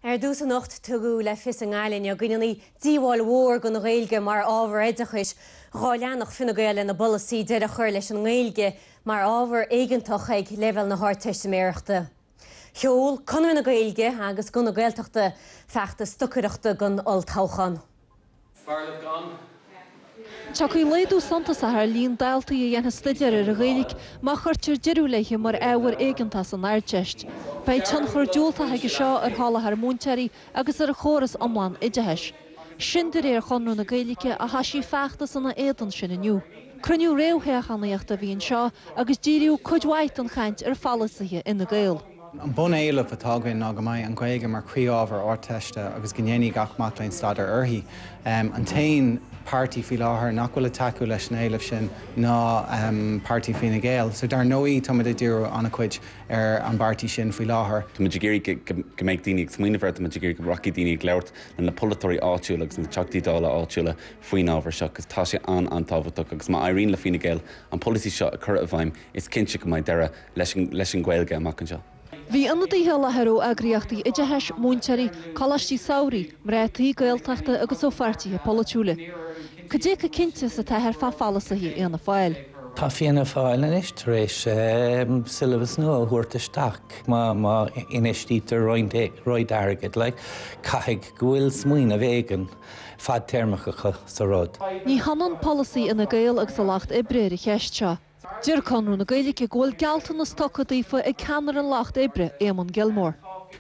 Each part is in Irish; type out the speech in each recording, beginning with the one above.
Ar dtús anocht tugadh le fios i nGaillimh inniu go ndéanfaí díobháil mhór don Ghaeilge mar ábhar oideachais dhá leanfadh Fine Gael lena bpolasaí deireadh a chur leis an nGaeilge mar ábhar éigeantach ag leibhéal na hArdteistiméireachta. Sheol Conradh na Gaeilge agus Guth na Gaeltachta feachtas stocaireachta don olltoghchán. Tiocfaidh laghdú suntasach ar líon daltaí a dhéanfaidh stuidéar ar an Ghaeilge má chuirtear deireadh léithe mar ábhar éigeantach san Ardteist. Beidh tionchar diúltach aige seo ar sholáthar múinteoirí agus ar an chóras iomlán oideachais. Sin de réir Chonradh na Gaeilge a thoisigh feachtas ina éadan sin inniu. Cruinniú réamhthoghchánaíochta a bhí anseo agus díríodh cuid mhaith den chaint ar pholasaithe Fhine Gael. An bun-éileamh atá againn ná go mbeidh an Ghaeilge mar chroí-ábhar Ardteiste agus go ndéanfaidh gach mac léinn staidéar uirthi. An t-aon páirtí faoi láthair nach bhfuil ag tacú leis an éileamh sin ná páirtí Fine Gael, so dar ndóigh táimid ag díriú an-chuid ar an bpáirtí sin faoi láthair. Táimid ag iarraidh go mbeidh daoine ag smaoineamh air, táimid ag iarraidh go rachaidh daoine ag labhairt le na polaiteoirí áitiúla agus na Teachtaí Dála áitiúla faoin ábhar seo agus tá sé an-an-tábhachtach agus má éiríonn le Fine Gael an polasaí seo a chur i bhfeidhm is cinnte go mbeidh deireadh leis an Ghaeilge amach anseo. Bhí ionadaithe i láthair ó eagraíochtaí oideachais, múinteoirí, coláistí samhraidh, mná tí Gaeltachta agus ó pháirtithe polaitiúla. Cad é chomh cinnte is atáthar fá pholasaithe Fhianna Fáil? Tá Fianna Fáil anois tar éis siollabas nua a thabhairt isteach. Má infheistítear roinnt airgid, caithfidh go bhfuil smaoineamh éigin fadtéarmach acu sa rud. Ní hionann polasaí Fhine Gael agus an Lucht Oibre ar an cheist seo. Deir Conradh na Gaeilge go bhfuil gealltanas tugtha daofa ag ceannaire an Lucht Oibre, Éamonn Gilmore,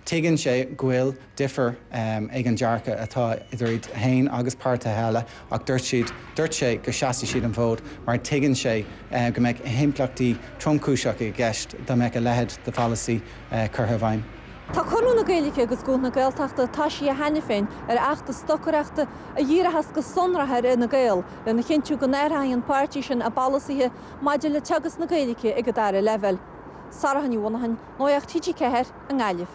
Tuigeann sé go bhfuil difear ag an dearcadh atá idir iad féin agus páirtithe eile ach dúirt siad dúirt sé go seasfaidh siad an fód mar tuigeann sé go mbeadh impleachtaí tromchúiseacha i gceist dá mbeadh a leithéid de pholasaí curtha i bhfeidhm. Tá Conradh na Gaeilge agus Guth na Gaeltachta toisithe cheana féin ar fheachtas stocaireachta a dhíreochas go sonrach ar Fhine Gael lena chinntiú go n-athraíonn an páirtí sin a bpolasaithe maidir le teagasc na Gaeilge ag an dara leibhéal. Sorcha Ní Mhonacháin, Nuacht TG4 i nGaillimh.